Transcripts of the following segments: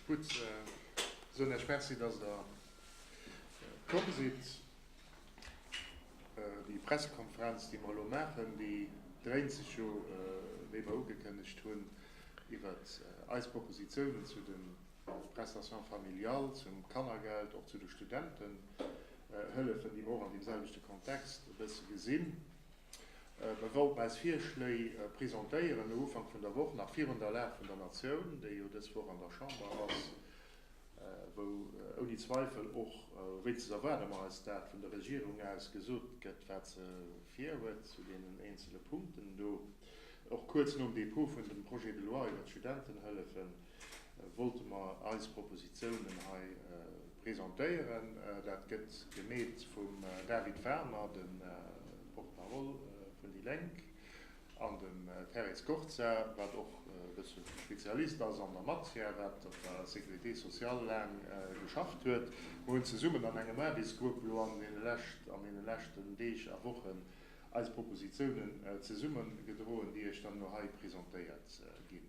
Gutt, soen Iech Merci, dass Der komm sidd. Déi Pressekonferenz, déi mer elo maachen, déi dréint sech jo, wéi mer ugekënnegt hunn, iwwert eis Propositionen zu de Prestations familiales, zum Kannergeld, och zu de Studentenhëllefen, déi mer och an deemselwechte Kontext e bësse gesinn. Mir wollten eis Virschléi presentéieren no Ufank vun der Woch, nach virun der Lag vun der Natioun, déi jo dës Woch an der Chamber ass, wou ouni Zweifel och, wéinstens erwaarde mer eis dat, vun der Regierung aus gesot gëtt, wat se virhuet zu deenen eenzele Punkten do. Och kuerz nom Dépôt vun dem Projet de loi iwwert d'Studentenhëllefen, wollte mer eis Propositionen hei presentéieren. Dat gëtt gemeet vum David Warner, de Porte-parole vun déi Lénk, an dem Thérèse Scorza, wat och e bësse Spezialist ass an der Matière, wat op der Sécurité sociale laang geschafft huet. Mer hunn zesummen an engem Aarbechtsgrupp elo an deene leschten Deeg a Wochen eis Propositionen zesummegedroen, déi Iech dann elo hei presentéiert ginn.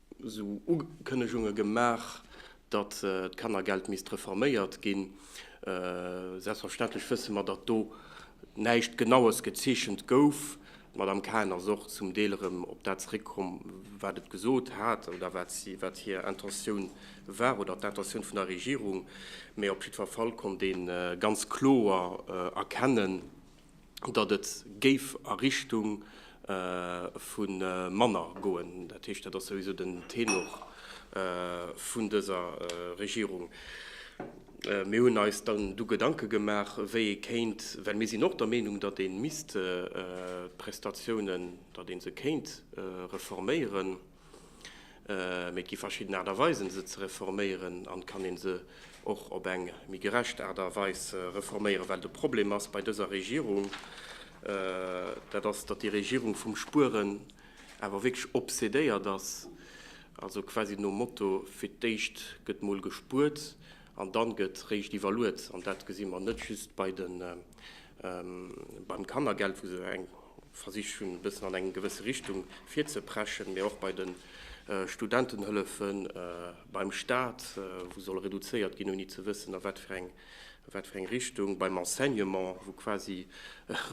esou Ukënnegunge gemaach, datt d'Kannergeld misst reforméiert ginn. Selbstverständlech wësse mer, datt do näischt Genaues gezeechent gouf. D'Madame Cahen ass och zum Deel erëm op dat zeréckkomm, wat et gesot hat oder wat hir Intentioun war oder d'Intentioun vun der Regierung. Mee op jiddwer Fall konnt ee ganz kloer erkennen, datt et géif a Richtung vu manner goen. Dat heescht, dat ass souwisou den Tenor vun dëser Regierung. Mir hunn eis dann du Gedanke gemaach, wéi ee kéint, well mir sinn och der Meenung, datt ee misst d'Prestatiounen, datt ee se kéint reforméieren, Mee et gi verschidden Aart a Weisen, se ze reforméieren. An et kann ee se och op eng méi gerecht Aart a Weis reforméieren. Well de Problem ass bei dëser Regierung, dat ass, datt déi Regierung vum Spueren awer wierklech obsedéiert ass. Also quasi nom Motto, fir d'éischt gëtt mol gespuert an dann gëtt réischt iwwerluet. An dat gesi mer net just bei de Beim Kannergeld, wou se eng versicht hunn e bëssen an eng gewësse Richtung virzepreschen, mee och bei de Studentenhëllefe beim Staat, wou soll reduzéiert ginn, ouni ze wëssen a wat fir eng wat fir eng Richtung, beim Enseignement, wou quasi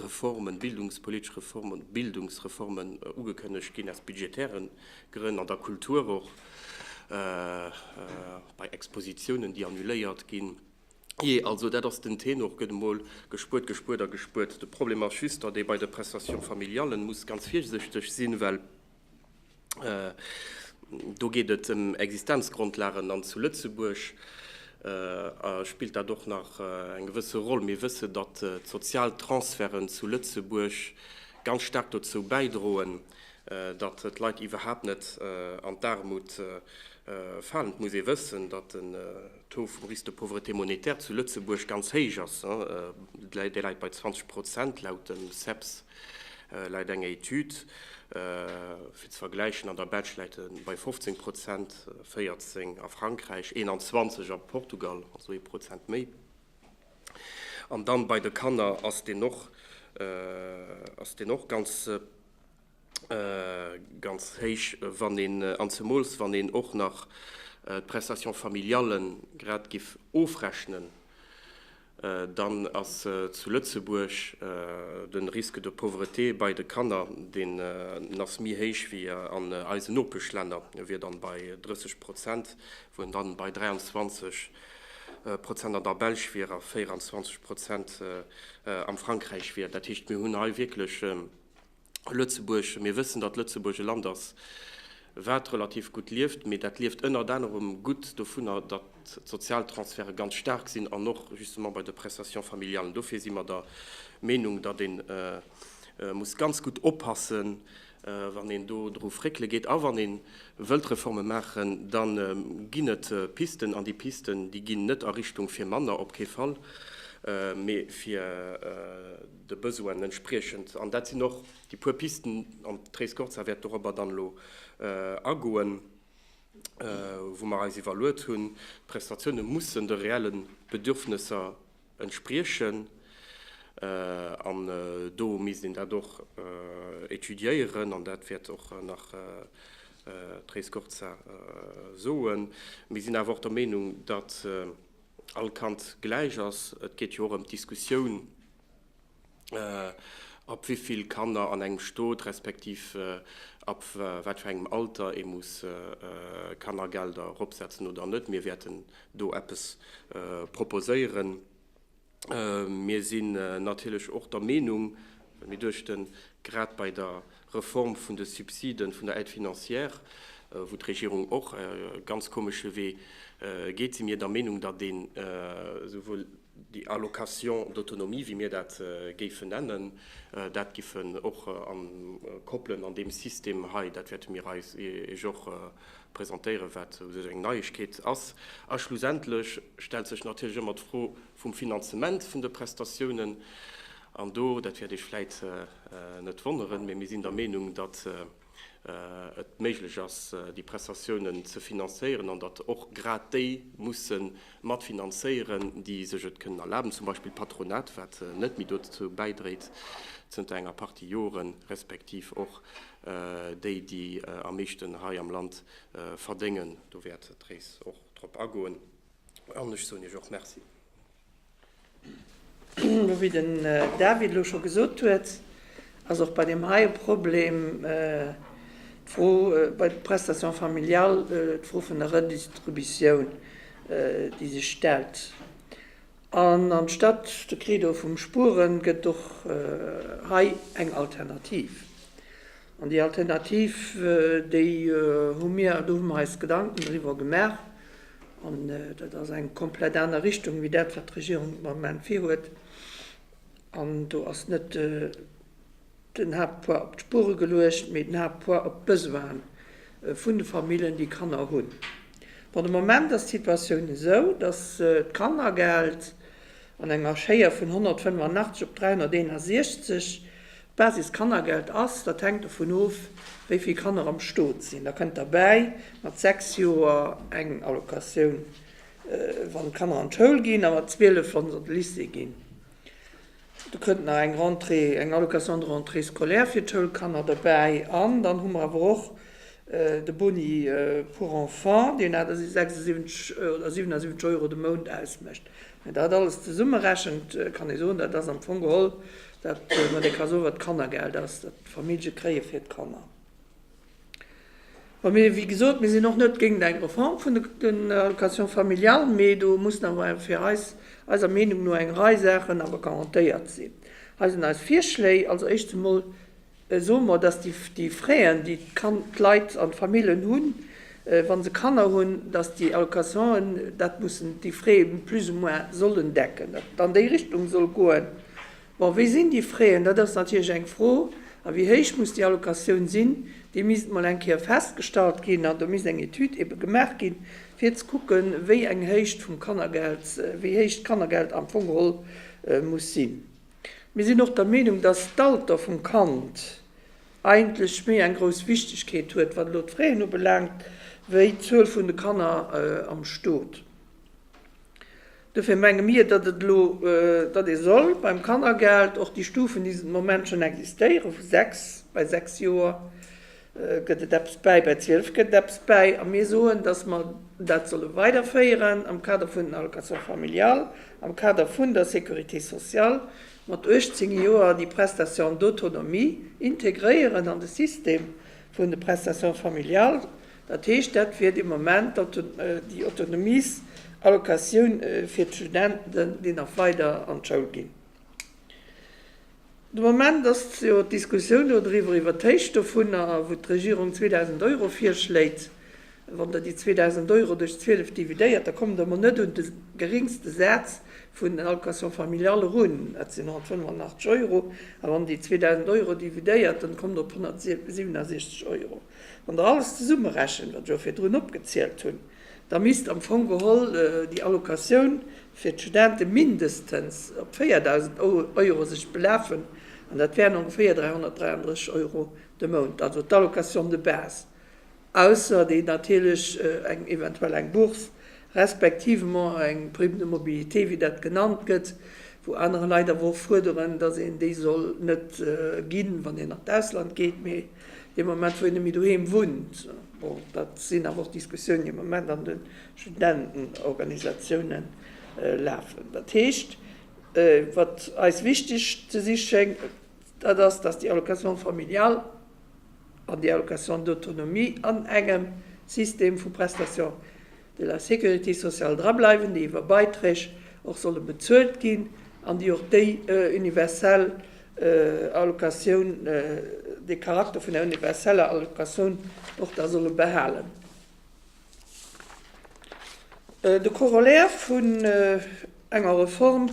Reformen, bildungspolitesch Reformen, Bildungsreformen ugekënnegt ginn aus budgetäre Grënn, an der Kultur och bei Expositiounen, déi annuléiert ginn. Jee, also dat ass den Tenor, gëtt emol gespuert, gespuert a gespuert. De Problem ass just, datt ee bei de Prestations familiales muss ganz virsichteg sinn, well do geet et ëm Existenzgrondlagen an zu Lëtzebuerg spillt dat och nach eng gewësse Roll. Mir wëssen, datt d'Sozialtransferten zu Lëtzebuerg ganz staark dozou bäidroen, datt d'Leit iwwerhaapt net an d'Aarmut falen. Et muss ee wëssen, datt de. Taux vum Risque de pauvreté monétaire zu Lëtzebuerg ganz héich ass, dee läit bei 20 Prozent, laut dem CEPS läit eng Etüd fir ze vergläichen, an der Belsch läit e bei 15 Prozent, 14 a Frankräich, 21 a Portugal, also ee Prozent méi. An dann bei de Kanner ass deen och ganz. ganz héich, wann een, an zemools wann een och nach d'Prestation familiale grad giff ofrechnen, dann ass zu Lëtzebuerg de Risque de pauvreté bei de Kanner, deen ass méi héich wéi an eisen Nopeschlänner, e wier dann bei 30 Prozent, wou en dann bei 23 Prozent an der Belsch wier a 24 Prozent am Frankräich wier. Dat heescht, mir hunn hei wierklech. Lëtzebuerg, mir wëssen, datt Lëtzebuerg e Land ass, wat relativ gutt lieft, mee dat lieft ënnert anerem gutt dovunner, datt d'sozial Transferte ganz staark sinn an och justement bei de Prestations familiales. Dofir si mer der Meenung, datt ee muss ganz gutt oppassen, wann een do dru fréckele geet. A wann ee wëllt Reforme maachen, da ginn et Pisten, an déi Pisten, déi ginn net a Richtung fir manner, op kee Fall, mee fir, de Besoinen entspriechend, an dat sinn och déi puer Pisten, an d'Therese Gorza wäert dorobber dann elo agoen, wou mer eis iwwerluet hunn, d'Prestatioune mussen de reelle Bedürfnesser entspriechen, an do misst een dat och étudiéieren, an dat wäert och nach d'Therese Gorza soen. Mir sinn awer och der Meenung, datt. all Kand gläich ass. Et geet jo och ëm d'Diskussioun, ab wéi vill Kanner an engem Stot, respektiv ab wat fir engem Alter ee muss Kannergelder eropsetzen oder net. Mir wäerten do eppes proposéieren. Mir sinn natierlech och der Meenung, well mir duechten, grad bei der Reform vun de Subsiden, vun der Aide financière, wou d'Regierung och e ganz komesche Wee geet, si mir der Meenung, datt een esouwuel déi Allocation d'autonomie, wéi mir dat géifen nennen, dat géife och koppelen an deem System hei. Dat wäerte mir Iech och presentéieren, wat u sech eng Neiegkeet ass. A schlussendlech stellt sech natierlech ëmmer d'Fro, vum Finanzement vun de Prestatiounen. An do, dat wäert Iech vläit net wonneren, mee mir sinn der Meenung, datt et méiglech ass, déi Prestatiounen ze finanzéieren an datt och grad déi musse mat finanzéieren, déi sech et kënnen erlaben, zum Beispill d'Patronat, wat net méi dozou bäidréit zënter enger Partie Joren, respektiv och déi, déi am meeschten hei am Land verdéngen. Do wäert d'Therese och drop agoen. An ech soen Iech och Merci. Wéi den David elo scho gesot huet, ass och bei deem hei e Problem d'Fro bei de Prestations familiales, d'Fro vun der Redistributioun, déi sech stellt. An anstatt de Credo vum Spueren gëtt och hei eng Alternativ. An déi Alternativ, déi hu mir, do hu mer eis Gedanken driwwer gemaach, An dat ass eng komplett aner Richtung wéi dat, wat d'Regierung de Moment virhuet. An do ass net den Haaptpoids op d'Spuere geluecht, mee den Haaptpoids op d'Besoine vun de Famillen, déi Kanner hunn. Bon, de Moment ass d'Situatioun esou, dass d'Kannergeld An enger Schéier vun 185 op 361. D'Basis-Kannergeld ass, dat hänkt dovun of, wéi vill Kanner am Stot sinn. Da kënnt derbäi mat 6 Joer eng Allocatioun, wann d'Kanner an d'Schoul ginn, a mat 12, wa se an de Lycée ginn. Da kënnt nach eng Rentrée, eng Allocation de rentrée scolaire fir d'Schoulkanner derbäi. An dann hu mer awer och de Boni pour enfants, deen 76 oder 77 Euro de Mount ausmécht. Mä dat alles zesummerechent, kann ee soen, dat ass am Fong geholl dat, wat ee ka soen, wat d'Kannergeld ass, dat d'Famillje kréie fir d'Kanner. Bon, mir, wéi gesot, mir sinn och net géint eng Reform vun den Allocations familiales, mee do mussen awer fir eis, eiser Meenung no, eng Rei Saachen awer garantéiert sinn. Hei sinn eis Virschléi, Als Éischts emol Soe mer, dass déi Frais-en, déi d'Leit an d'Famillen hunn, wa se Kanner hunn, dass déi Allocation'en dat mussen, déi Frais plus ou moins sollen decken, datt et an déi Richtung soll goen. Bon, wéi sinn déi Frais-en? Dat ass natierlech eng Fro. A wéi héich muss déi Allocatioun sinn? Déi misst emol eng Kéier festgestallt ginn an do misst eng Etüd ebe gemaach ginn, fir ze kucken, wéi eng Héicht vum Kannergeld, wéi héich d'Kannergeld am Fong geholl muss sinn. Mir sinn och der Meenung, dass d'Alter vum Kand eigentlech méi eng grouss Wichtegkeet huet, wat elo d'Fraen ubelaangt, wéi d'Zuel vun de Kanner am Stot. Dofir menge mir, datt et elo, datt ee soll beim Kannergeld och déi Stufen, déi de Moment schonn existéieren, vu sechs, bei sechs Joer, Gëtt et eppes bäi? Bäi 12 gëtt et eppes bäi. A mir soen, dass mer dat solle weiderféieren am Kader vun den Allocations familiales, am Kader vun der Sécurité sociale, mat 18 Joer déi Prestation d'autonomie integréieren an de System vun de Prestations familiales. Dat heescht, dat wier dee Moment déi Autonomiesallocation fir d'Studenten, déi nach weider an d'Schoul ginn. De Moment ass jo d'Diskussioun do driwwer, iwwer d'Héicht dovunner, wou d'Regierung 2.000 Euro virschléit. Wann Der déi 2.000 Euro duerch 12 dividéiert, da kommt Der emol net un de geringste Saz vun den Allocations familiales erun, dat sinn 185 Euro. A wann Der déi 2.000 Euro dividéiert, dann kommt Der op 167 Euro. Wann Der alles zesummerechent, wat ech och virdrun opgezielt hunn, da misst am Fong geholl déi Allocatioun fir d'Studente mindestens op 4.000 Euro sech belafen, an dat wären ongeféier 333 Euro de Mount, also d'Allocation de base, ausser déi natierlech eng eventuell eng Bourse respektivement eng Prime de mobilité, wéi dat genannt gëtt, wou anerer Leit awer och fuerderen, dass een déi soll net ginn, wann een an d'Ausland geet, mee. Dee Moment, wou een net méi doheem wunnt, bon, dat sinn awer och Diskussiounen, déi am Moment an de Studentenorganisatiounen lafen. Dat heescht, wat eis wichteg ze si schéngt, dat ass, dass déi Allocation familiale an déi Allocation d'autonomie an engem System vu Prestations de la Sécurité sociale drableiwen, déi iwwer Beiträg och solle bezuelt ginn an déi och déi universell Allocatioun, dee Charakter vun der universeller Allocatioun och da solle behalen. De Corollaire vun. enger Reform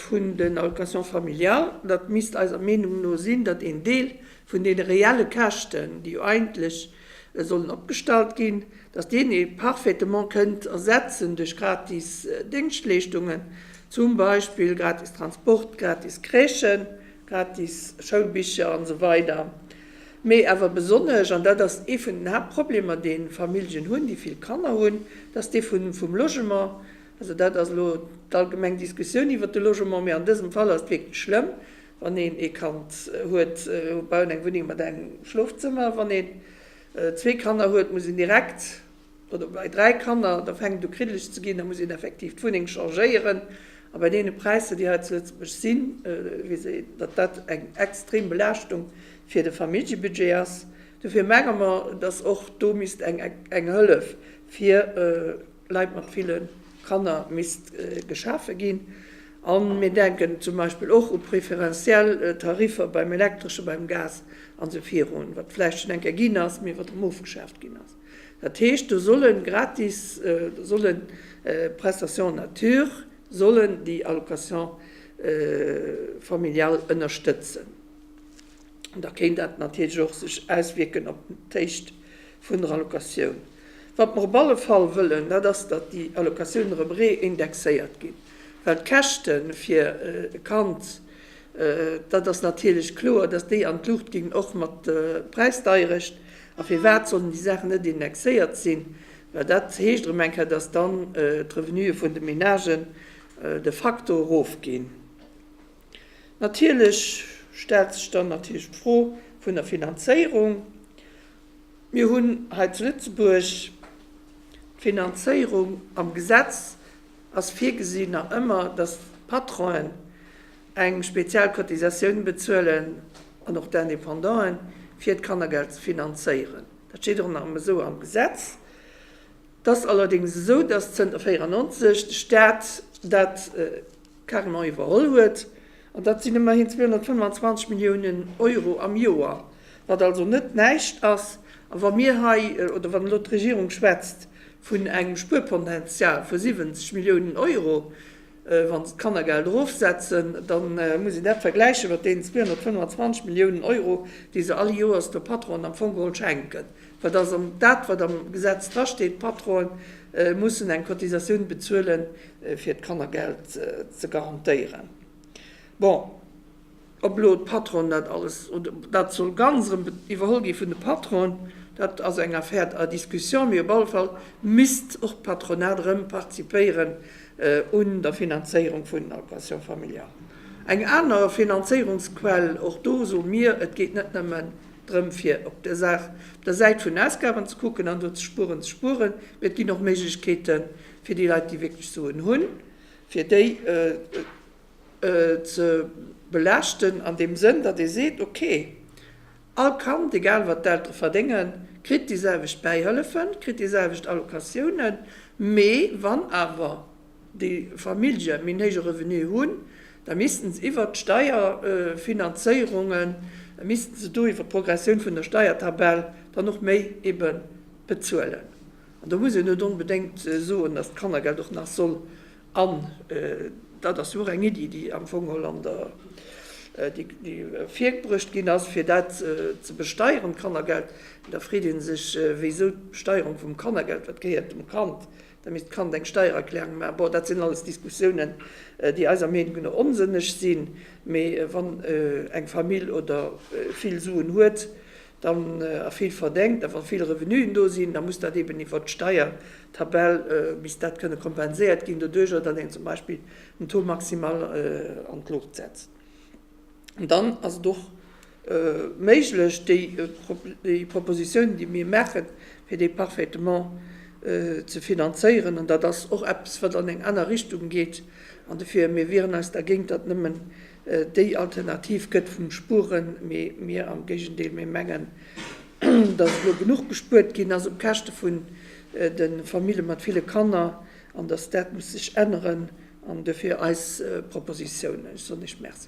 vun den Allocations familiales, datt misst eiser Meenung no sinn, datt een Deel vun deene reelle Käschten, déi jo eigentlech sollen opgestallt ginn, datt deen ee parfaitement kënnt ersetzen duerch gratis Déngschtleeschtungen, zum Beispill gratis Transport, gratis Crèchen, gratis Schoulbicher an esou weider. Mee awer besonnesch, an dat ass ee vun den Haaptproblemer, dee Familljen hunn, déi vill Kanner hunn, datt dee vum Logement Also dat ass elo d'allgemeng Diskussioun iwwert de Logement, mee an dësem Fall ass et wierklech schlëmm, wann een ee Kand huet, baut eng Wunneng mat engem Schlofzëmmer, wann een zwee Kanner huet, muss een direkt, oder bei dräi Kanner, da fänkt et u kriddeleg ze ginn, da muss een effektiv d'Wunneng changéieren. A bei deene Präisser, déi hei zu Lëtzebuerg sinn, weess een, datt dat eng extrem Belaaschtung fir de Familljebudget ass. Dofir menge mer, datt och do misst eng Hëllef fir Leit mat ville Kanner misst geschafe ginn. A mir denken zum Beispill och u preferentiell Tariffer beim Elektresche, beim Gas an esou virun, wat vläicht schonn eng Kéier ginn ass, mee wat erëm ofgeschaaft ginn ass. Dat heescht, do solle gratis, do solle Prestations en nature sollen déi Allocation familiale ënnerstëtzen. da kéint dat natierlech och sech auswierken op d'Héicht vun der Allocatioun. Wat mer op alle Fall wëllen, dat ass, datt déi Allocatioun erëm reindexéiert ginn, well d'Käschte fir e Kand, dat ass natierlech kloer, datt déi an d'Luucht ginn, och mat der Präisdeierecht. A firwat sollen déi Saachen net indexéiert sinn? Well dat heescht erëm eng Kéier, datt dann d'Revenuë vun de Ménagen de facto erofginn. Natierlech stellt sech dann natierlech d'Fro vun der Finanzéierung. Mir hunn hei zu Lëtzebuerg d'Finanzéierung, am Gesetz ass virgesinn nach ëmmer, dass d'Patronen eng speziell Cotisatioun bezuelen an och d'Indépendanten, fir d'Kannergeld ze finanzéieren. Dat steet och nach ëmmer esou am Gesetz. Et ass allerdéngs esou, dass zënter 1994 de Staat dat, Carnot iwwerholl huet. An dat sinn ëmmerhin 225 Milliounen Euro am Joer, wat also net näischt ass. A wa mir hei, oder wann elo d'Regierung schwätzt vun engem Spuerpotential vu 70 Milliounen Euro, wa se d'Kannergeld erofsetzen, da muss een dat vergläiche mat deenen 225 Milliounen Euro, déi se all Joers de Patronen am Fong geholl schenken. Wat ass am, dat wat am Gesetz drasteet, Patronen mussen eng Cotisatioun bezuelen fir d'Kannergeld ze garantéieren. Bon, ob elo d'Patronen dat alles, oder dat soll ganz erëm iwwerholl gi vun de Patronen, dat ass eng Affaire à discussion, mee op alle Fall misst och d'Patronat erëm participéieren un der Finanzéierung vun den Allocations familiales. Eng aner Finanzéierungsquell, och do soe mir, et geet net nëmmen Drëm fir op der Saach, op der Säit vun Ausgaben ze kucken an do ze spueren, ze spueren, mee et ginn och Méiglechkeete fir déi Leit, déi wierklech Suen hunn, fir déi ze belaaschten an deem Sënn, datt ee seet, okay, all Kand, egal wat d'Eltere verdéngen, kritt déi selwecht Bäihëllefen, kritt déi selwecht Allocatiounen, mee wann awer déi Famillje méi néige Revenue hunn, da missten se iwwert d'Steierfinanzéierungen, da missten se do iwwert d'Progressioun vun der Steiertabell dann och méi ebe bezuelen. An do muss een net onbedéngt soen, datt d'Kannergeld och nach soll an, dat ass jo och eng Iddi, déi am Fong geholl an der, déi virbruecht ginn ass, fir dat ze besteieren, d'Kannergeld, da freet ee sech, wéisou d'Besteierung vum Kannergeld, wat gehéiert dem Kand, Da misst d'Kand eng Steiererklärung maachen. Bon, dat sinn alles Diskussiounen, déi eiser Meenung no onsënneg sinn. Mee wann eng Famill oder vill Suen huet, dann, a vill verdéngt, a wa vill Revenuen do sinn, da muss dat eben iwwert d'Steiertabell, misst dat kënne kompenséiert ginn doduerjer, datt een zum Beispill den Taux maximal an d'Luucht setzt. An dann ass et och. méiglech, déi Proposition, déi mir maachen, fir dee Parfaitement ze finanzéieren. An dat ass och eppes, wat an eng aner Richtung geet. An dofir, mir wieren eis dergéint, datt nëmmen déi Alternativ gëtt vum Spueren, mee mir am Géigendeel, mir mengen, datt elo genuch gespuert ginn ass op Käschte vun de Famille mat ville Kanner an datt dat muss sech änneren. An dofir eis Proposition. Ech soen Iech Merci.